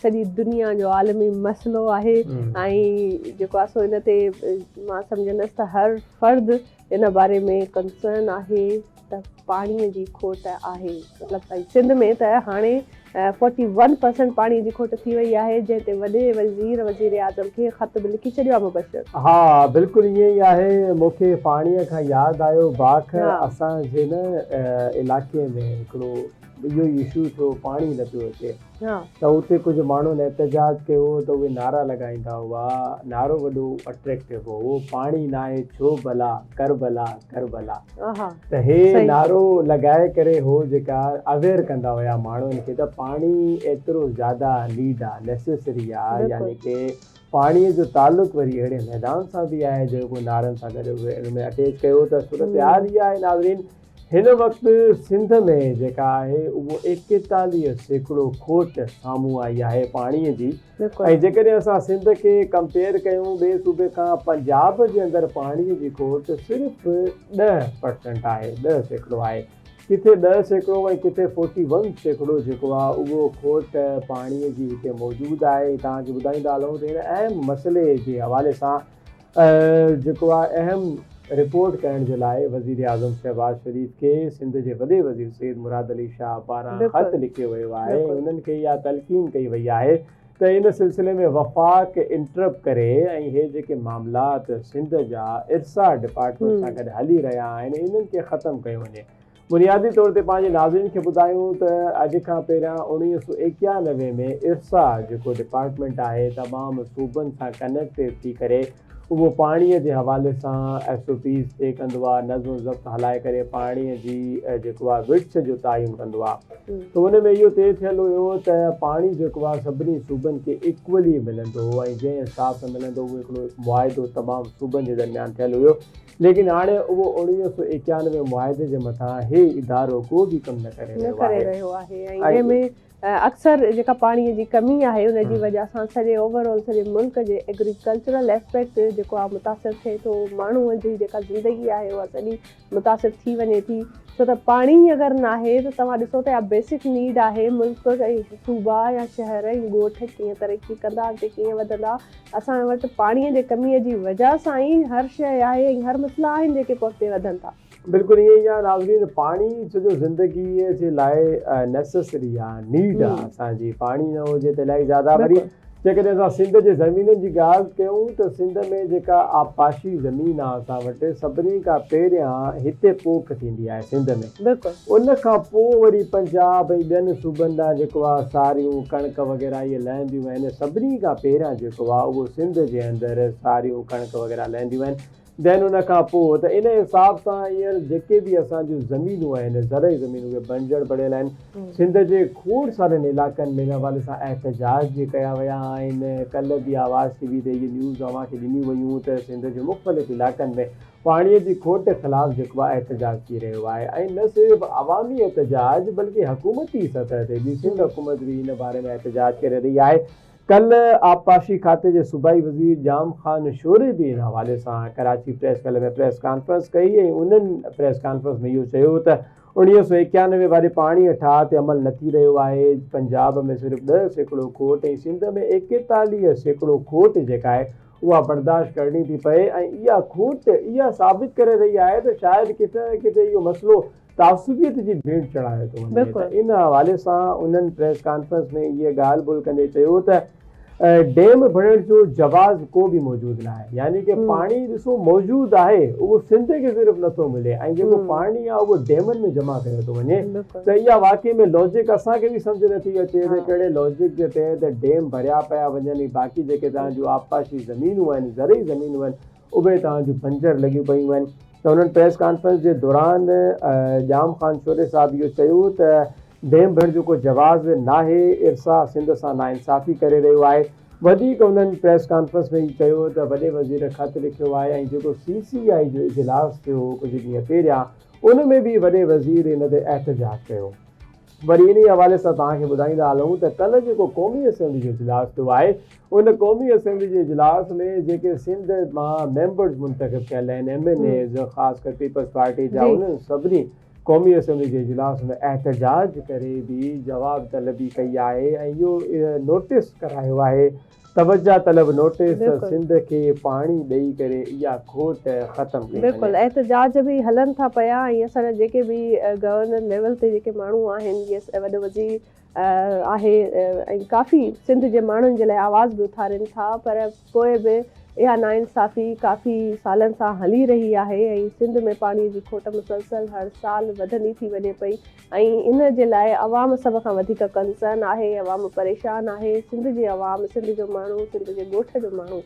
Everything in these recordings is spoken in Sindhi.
سڄي دنيا جو عالمي مسئلو آهي ۽ جيڪو آهي سو ان تي مان سمجهندس ته هر فرد ان باري ۾ ڪنسرن آهي ته پاڻي جي کوٽ آهي مطلب ۽ سنڌ ۾ ته هاڻي فورٽي ون پرسنٽ پاڻي جي کوٽ ٿي وئي آهي جنهن تي وڏي وزير وزيراعظم کي خط به لکي ڇڏيو آهي مبشر. ها بلڪل ائين ئي آهي مون کي پاڻي کان ياد آيو باک اسان جي نه علائقي ۾ هڪڙو. ڊڄو يسوع ٿو پاڻ ئي نه پيو اچي. ته اتي ڪجهه ماڻهن احتجاج ڪيو ته اهي نعرا لڳائيندا هئا. نعرو وڏو اٽريڪٽو هو اهو پاڻ ئي ناهي ڇو ڀلا ڪربلا ڪربلا ته هي نعرو لڳائي ڪري هو جيڪا اويئر ڪندا هيا ماڻهن کي ته پاڻي ايترو زياده نيڊ آهي نيسيسري آهي يعني ڪي پاڻي جو تعلق وري اهڙي ميدان سان به آهي جيڪو نعرن سان گڏ ان ۾ اٽيچ ڪيو ته صورتحال اها آهي ناظرين هن وقت سنڌ ۾ جيڪا آهي اهو ايڪيتاليهه سيڪڙو کوٽ سامهون آئي آهي پاڻي جي ۽ جيڪڏهن اسان سنڌ کي ڪمپيئر ڪيون ٻئي صوبي کان پنجاب جي اندر پاڻي جي کوٽ صرف ڏهه پرسنٽ آهي ڏهه سيڪڙو آهي ڪٿي ڏهه سيڪڙو ۽ ڪٿي فورٽي ون سيڪڙو جيڪو آهي اهو کوٽ پاڻي جي هتي موجود آهي توهان کي ٻڌائيندا هلون ته هن اهم مسئلي جي حوالي سان جيڪو آء ايم رپورٽ ڪرڻ جي لاء وزيراعظم شهباز شريف کي سنڌ جي وڏي وزير سيد مراد علي شاهه پاران خط لکيو ويو آهي ۽ انهن کي اها تلقين ڪئي وئي آهي ته ان سلسلي ۾ وفاق انٽرپ ڪري ۽ هي جيڪي معاملات سنڌ جا ارسا ڊپارٽمينٽ سان گڏ هلي رهيا آهن انهن کي ختم ڪيو وڃي بنيادي طور تي پنهنجي ناظرين کي ٻڌايون ته اڄ کان پهريان اڻويهه سؤ ايڪيانوي ۾ ارسا جيڪو ڊپارٽمينٽ آهي تمام صوبن سان ڪنيڪٽ ٿي ڪري اهو پاڻي جي حوالي سان ايس او پيز طئي ڪندو آهي نظم و ضبط هلائي ڪري پاڻي جي جيڪو آهي وڙڇ جو تعين ڪندو آهي ته ان ۾ اهو طئي ٿيل هيو ته پاڻي جيڪو آهي سڀني صوبن کي ايڪولي ملندو ۽ جنهن حساب سان ملندو اهو هڪڙو معاهدو تمام صوبن جي درميان ٿيل هيو ليڪن هاڻي اهو اوڻويهه سؤ ايڪيانوي معاهدي جي مٿان هي ادارو ڪو به ڪم نه ڪري رهيو آهي. نه ڪري رهيو آهي ۽ جنهن ۾ اڪثر جيڪا پاڻي جي ڪمي آهي ان جي وجه سان سڄي اوور آل سڄي ملڪ جي ايگريڪلچرل اسپيڪٽ جيڪو آهي متاثر ٿئي ٿو ماڻهو جي جيڪا زندگي آهي اها سڄي متاثر ٿي وڃي ٿي ڇو ته پاڻي ئي اگر ناهي ته توهان ڏسو ته اها بيسڪ نيڊ آهي ملڪ ۽ صوبا يا شهر ۽ ڳوٺ ڪيئن ترقي ڪندا اڳتي ڪيئن وڌندا اسان وٽ پاڻيء جي ڪميء جي وجه سان ئي هر شيء آهي ۽ هر مسئلا آهن جيڪي پوء اڳتي وڌن ٿا. بلڪل ائين ئي آهي ناظرين پاڻي سڄو زندگيء جي لاء نيسيسري آ نيڊ آ اسان جي پاڻي نه هجي ته الائي زياده وري جيڪڏهن اسان سنڌ جي زمينن جي ڳالهه ڪيون ته سنڌ ۾ جيڪا آبپاشي زمين آ اسان وٽ سڀني کان پهريان هتي پوک ٿيندي آهي سنڌ ۾. بلڪل. ان کان پوء وري پنجاب ۽ ٻين صوبن ڏانهن جيڪو آ ساريون، ڪڻڪ وغيره اهي لهنديون آهن. سڀني کان پهريان جيڪو آ اهو سنڌ جي اندر ساريون، ڪڻڪ وغيره لهنديون آهن. Then ان کان پوء ته ان حساب سان هينئر جيڪي به اسان جون زمينون آهن، زرعي زمينون اهي بنجر پڙيل آهن. سنڌ جي کوڙ سارن علائقن ۾ ان حوالي سان احتجاج به ڪيا ويا آهن. ڪلهه به آواز ٽي وي تي اهي نيوز اوهان کي ڏنيون ويون ته سنڌ جي مختلف علائقن ۾ پاڻي جي کوٽ خلاف جيڪو احتجاج ٿي رهيو آهي ۽ نه صرف عوامي احتجاج بلڪه حڪومتي سطح تي به سنڌ حڪومت به ان باري ۾ احتجاج ڪري رهي آهي ڪلهه آبپاشي کاتي جي صوبائي وزير ڄام خان شوري به ان حوالي سان ڪراچي پريس ڪلهه ۾ پريس ڪانفرنس ڪئي ۽ انهن پريس ڪانفرنس ۾ اهو چيو ته اڻويهه سؤ ايڪيانوي واري پاڻي ٺاهه تي عمل نه ٿي رهيو آهي پنجاب ۾ صرف ڏهه سيڪڙو کوٽ ۽ سنڌ ۾ ايڪيتاليهه سيڪڙو کوٽ جيڪا آهي اها برداشت ڪرڻي ٿي پئي ۽ اها کوٽ اها ثابت ڪري رهي آهي ته شايد ڪٿي نه ڪٿي اهو مسئلو تعصبيت جي ڀيٽ چڙهايو ٿو وڃي ته ان حوالي سان انهن پريس ڪانفرنس ۾ اهي ڳالهه ٻولهه ڪندي چيو ته ڊيم ڀرڻ جو جواز ڪو به موجود ناهي يعني ڪي پاڻي ڏسو موجود آهي اهو سنڌ کي صرف نٿو ملي ۽ جيڪو پاڻي آهي اهو ڊيمن ۾ جمع ڪيو ٿو وڃي ته اها واقعي ۾ لاجڪ اسان کي به سمجهه نه ٿي اچي ته ڪهڙي لاجڪ جي تحت ڊيم ڀريا پيا وڃن ۽ باقي جيڪي توهان جون آبپاشي زمينون آهن، زرعي زمينون آهن، اهي توهان جون بنجر لڳيون پيون آهن ته هنن پريس ڪانفرنس جي دوران ڄام خان شوري صاحب اهو چيو ته ڊيم ڀرڻ جو ڪو جواز ناهي، ارسا سنڌ سان ناانصافي ڪري رهيو آهي، وڌيڪ هنن پريس ڪانفرنس ۾ هي چيو ته وڏي وزير خط لکيو آهي ۽ جيڪو سي سي آء جو اجلاس ٿيو هو ڪجهه ڏينهن پهريان ان ۾ به وڏي وزير ان تي احتجاج ڪيو. وري انهي حوالي سان توهان کي ٻڌائيندا هلون ته ڪلهه جيڪو قومي اسيمبلي جو اجلاس ٿيو آهي ان قومي اسيمبلي جي اجلاس ۾ جيڪي سنڌ مان ميمبرز منتخب ڪيل آهن ايم اين ايز خاص ڪري پيپلز پارٽي جا انهن سڀني قومي اسيمبلي جي اجلاس ۾ احتجاج ڪري به جواب طلبي ڪئي آهي ۽ اهو نوٽيس ڪرايو آهي توجه طلب نوٽيس سنڌ کي پاڻي ڏئي ڪري اها کوٽ ختم ڪئي وڃي. بلڪل احتجاج به هلن ٿا پيا ۽ اسان جا جيڪي به گورنر ليول تي جيڪي ماڻهو آهن يس وڏو وزير آهي ۽ ڪافي سنڌ جي ماڻهن جي لاء آواز به اٿارين ٿا پر پوء به اها ناانصافي ڪافي سالن سان هلي رهي آهي ۽ سنڌ ۾ پاڻي جي کوٽ مسلسل هر سال وڌندي ٿي وڃي پئي ۽ ان جي لاء عوام سڀ کان وڌيڪ ڪنسرن آهي عوام پريشان آهي سنڌ جي عوام سنڌ جو ماڻهو سنڌ جي ڳوٺ جو ماڻهو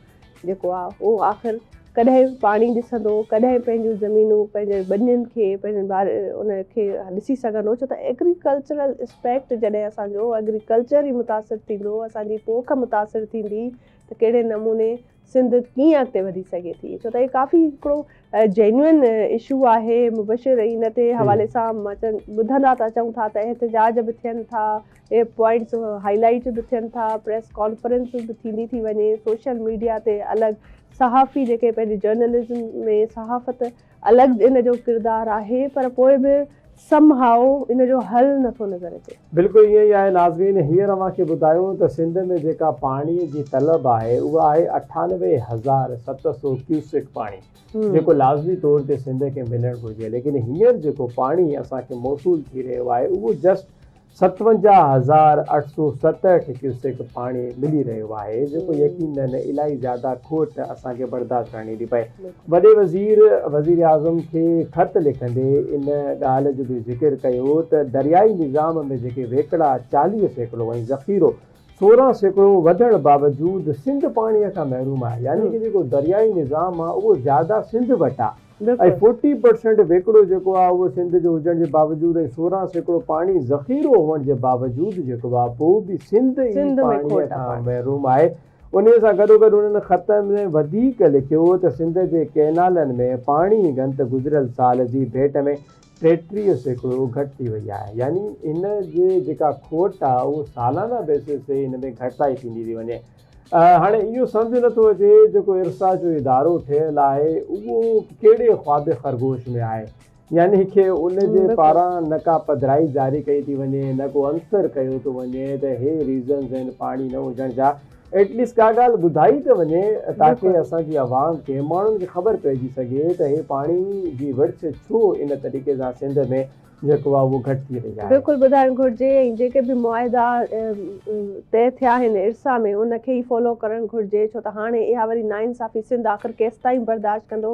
جيڪو آ اهو آخر ڪڏهن پاڻي ڏسندو ڪڏهن پنهنجون زمينون پنهنجي ٻنين کي پنهنجن بار ان کي ڏسي سگهندو ڇو ته ايگريڪلچرل اسپيڪٽ جڏهن اسان جو ايگريڪلچر ئي متاثر ٿيندو اسان جي پوک متاثر ٿيندي ته ڪهڙي نموني سنڌ ڪيئن اڳتي وڌي سگهي ٿي ڇو ته هي ڪافي هڪڙو جينوئن اشو آهي مبشر ان تي حوالي سان ٻڌندا ته اچون ٿا ته احتجاج به ٿين ٿا اهي پوائنٽس هائي لائيٽ به ٿين ٿا پريس ڪانفرنس به ٿيندي ٿي وڃي سوشل ميڊيا تي الڳ صحافي جيڪي پنهنجي جرنلزم ۾ صحافت الڳ ان جو ڪردار آهي پر پوء به سم هائو ان جو حل نه ٿو نظر اچي. بلڪل ائين ئي آهي ناظرين هينئر اوهان کي ٻڌايون ته سنڌ ۾ جيڪا پاڻي جي طلب آهي اها آهي اٺانوي هزار ست سو ڪيوسڪ پاڻي جيڪو لازمي طور تي سنڌ کي ملڻ گهرجي ليڪن هينئر جيڪو پاڻي اسان کي موصول ٿي رهيو آهي اهو جسٽ ستونجاهه هزار اٺ سؤ ستهٺ ڪيوسڪ پاڻي ملي رهيو آهي جيڪو يقينن الائي زياده کوٽ اسان کي برداشت ڪرڻي ٿي پئي. وڏي وزير وزيراعظم کي خط لکندي ان ڳالهه جو به ذڪر ڪيو ته دريائي نظام ۾ جيڪي ويڪڙا چاليهه سيڪڙو ۽ ذخيرو سورهن سيڪڙو وڌڻ باوجود سنڌ پاڻي کان محروم آهي يعني ته جيڪو دريائي نظام آهي اهو زياده سنڌ وٽ آهي. ۽ فورٽي پرسينٽ ويڪڙو جيڪو آهي اهو سنڌ جو هجڻ جي باوجود ۽ سورهن سيڪڙو پاڻي ذخيرو هئڻ جي باوجود جيڪو آهي پوء به سنڌ ئي پاڻي کان محروم آهي انهي سان گڏوگڏ انهن خط ۾ وڌيڪ لکيو هو ته سنڌ جي ڪئنالن ۾ پاڻي جي گهنت گذريل سال جي ڀيٽ ۾ ٽيٽيهه سيڪڙو گهٽ ٿي وئي آهي يعني ان جي جيڪا کوٽ آهي اهو سالانه بيسز تي ان ۾ گهٽتائي ٿيندي ٿي وڃي هاڻي اهو سمجهه نه ٿو اچي جيڪو ارسا جو ادارو ٺهيل آهي اهو ڪهڙي خواب خرگوش ۾ آهي. يعني کي ان جي پاران نه ڪا پڌرائي جاري ڪئي ٿي وڃي نه ڪو انصر ڪيو ٿو وڃي ته هي ريزنز آهن پاڻي نه هجڻ جا ايٽ ليسٽ ڪا ڳالهه ٻڌائي ته وڃي تاڪه اسان جي عوام کي ماڻهن کي خبر پئجي سگهي ته هي پاڻي جي وڙڇ ڇو ان طريقي سان سنڌ ۾ جيڪو آهي اهو گهٽ ٿي رهي آهي. بلڪل ٻڌائڻ گهرجي ۽ جيڪي به معاهدا طئي ٿيا آهن ارسا ۾ ان کي ئي فالو ڪرڻ گهرجي ڇو ته هاڻي اها وري ناانصافي سنڌ آخر ڪيستائين برداشت ڪندو